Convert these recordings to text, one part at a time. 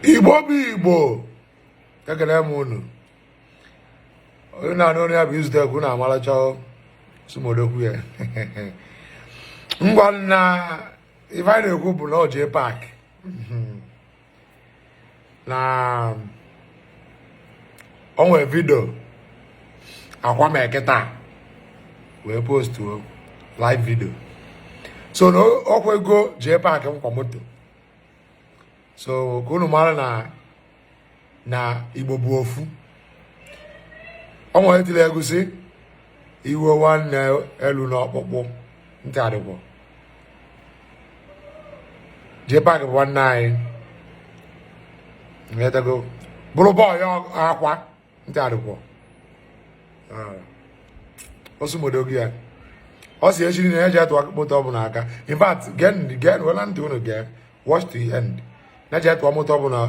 igbo bụ igbo ekele m unu onye na-anụ onu ya bụ izutek na amalacha sumodokwu ya ngwa nna ife anyị na-ekwu bụ na ọ Jpac na o nwe video Akwa mee kịta wee postuo live video so na o kwego Jpac nkwa moto so ka unu mara na na igbo bụ ofu ọnwa etiri egusi iwe nwanne elu na ọkpụkpụ ntị arịgwọ Jpac bụ nwanne anyị bụrụ boy Akwa ntị arịkwọ osumodokwu ya ọ sị echi na ya je atụ moto ọ bụ n'aka in fact gen gen wela ntị unu gee watch to the end na eje atụ moto ọ bụ na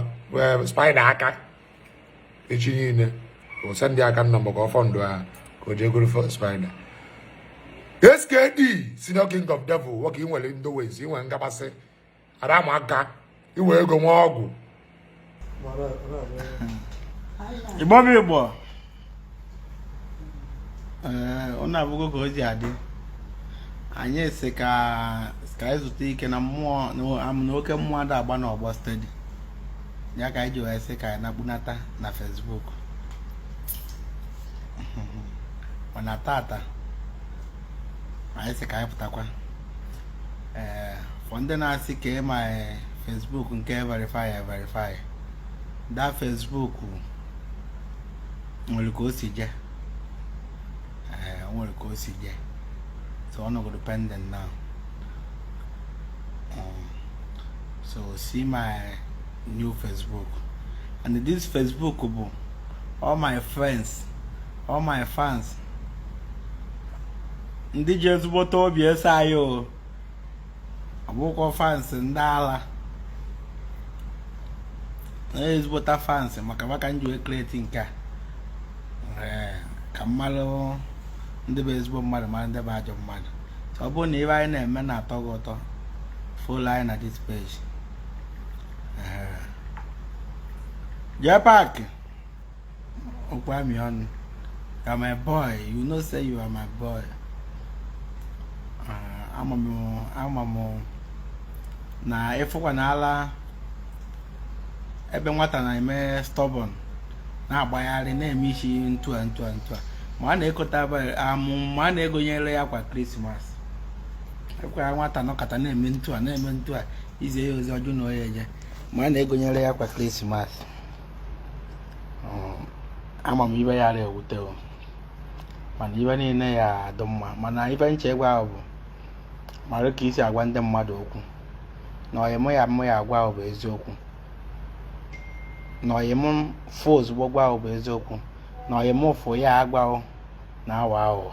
eh, spider aka echi niile o sendị aka nna maka ọfọ ndụ ahụ ka o jee goro spider skd senior king of devil nwoke ị nwere ndị ways ị nwere ngabasị ada ama aka iwe ego nwa ọgwụ igbo bụ igbo ee unu afụgo ka o ji adị anyị sị ka ka anyị zutu ike na mmụọ na oke mmụọ ada agba n'ọgbọ steady ya ka anyị ji wee sị ka anyị nakpunata na Facebook mana tata anyị sị ka anyị pụtakwa ee for ndị na-asị kee my e, Facebook nke verify verify that Facebook nwere ka o si je ee nwere ka o si je so ọ nọgodo pending now um, so see my new Facebook and this Facebook bụ all my friends all my fans ndị ji ezigbote obi eso anyị o ọ bụkwọ fans ndị ala na ezigbote fans maka fa ka m ji wee create nke a eh, ka m marụ ndị bụ ezigbo mmadụ mara ndị bụ ajọ mmadụ so ọ bụrụ na ife anyị na-eme na-atọ gị ụtọ follow anyị na this page eh. Jpac okwu amị ọnụ you are my boy you know say you are my boy ah, ama m na ị fụkwanala ebe nwata na-eme stubborn na-agbagharị na-eme isi ntua ntua ntua ma a na-ekota amụ ma a na-egonyere ya akwa krismas ekwe ya nwata nọkata na-eme ntua na-eme ntua i zie ya ozi ọ jụ na o ye eje ma a na-egonyere ya akwa krismas um, ama m ive ya ewute mana ive niile ya adụ mma mana ive m chọ ịgwa ghụ bụ mara ka e si agwa ndị mmadụ okwu na ọyị mụ ya mụ ya agwa ghụ bụ eziokwu na ọyị m fụ ozugbo gwa ghụ bụ eziokwu na ọyị m fụ ya agwa ghụ na-awa ahụ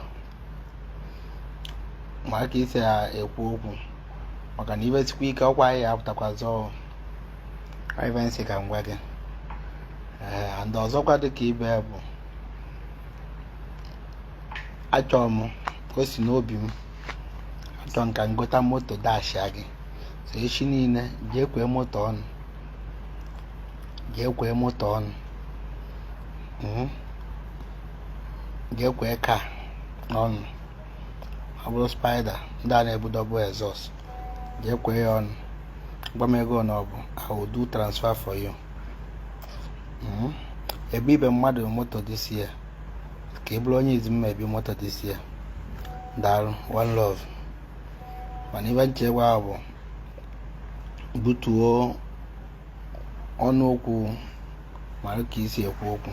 mara ka e si ekwu okwu maka na ive sikwa ike ọkwa ya apụtakwa zọọ ive m sị ka m gwa gị ee and ọzọkwa dị ka ibe ya bụ achọrọ m o si n'obi m achọrọ m ka m gota moto dashia gị so echi niile jee kwee moto ọnụ jee kwee moto ọnụ Mhm. jee kwee car ọnụ ọ bụrụ Spider ndị a na-ebu double exhaust jee kwee ya ọnụ gwa m ego na ọ bụ I will do transfer for you hmm? ebibe m mmadụ moto this year ka ị bụrụ onye izi m ma ebi moto this year daalụ one love mana ive m chọ ịgwa ghụ bụ butuo ọnụ okwu mara ka e si ekwu okwu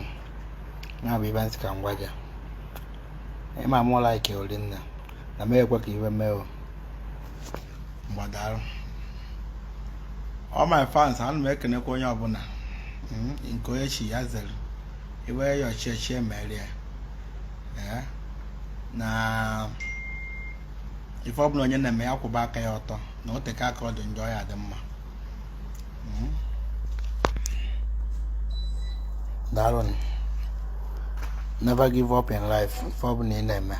ya bụ ive m sị ka m gwa gị ị ma mụ like o ri nne na m ekwe ka ive mee o ngwa daalụ all my fans ana m ekenekwa onye ọbụla hmm, nke onye chi ya zere iwe ya ọchịchị emere ya eh, na ife ọbụla onye na-eme ya kwụba aka ya ọtọ na o teka aka ọ dị njọ ya adị mma daalụ never give up in life ife ọ bụla ị na-eme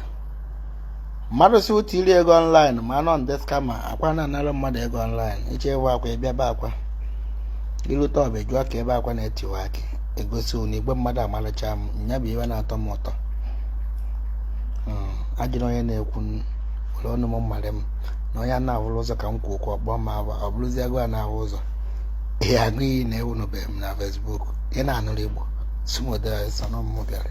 mmadụ si ụtụ iri ego online ma anọ nde scammer akwa na-anara mmadụ ego online ị chọ ibe akwa ị bịa bee akwa ịlụta ọbịa jụọ ka ebe akwa na-etiwa akị egosi na igwe mmadụ amalacha m nya bụ ive na-atọ m ụtọ hmm, ajụrụ onye na-ekwu ụlọ ọnụ m mmadụ m na onye na-ahụrụ ụzọ ka m kwuo okwu ọkpọ ma ọ bụrụzi agụ a na-ahụ ụzọ ihe agụ iyi na-ewunubeghị m na Facebook ị na-anụrụ Igbo sumodesonụmụ bịara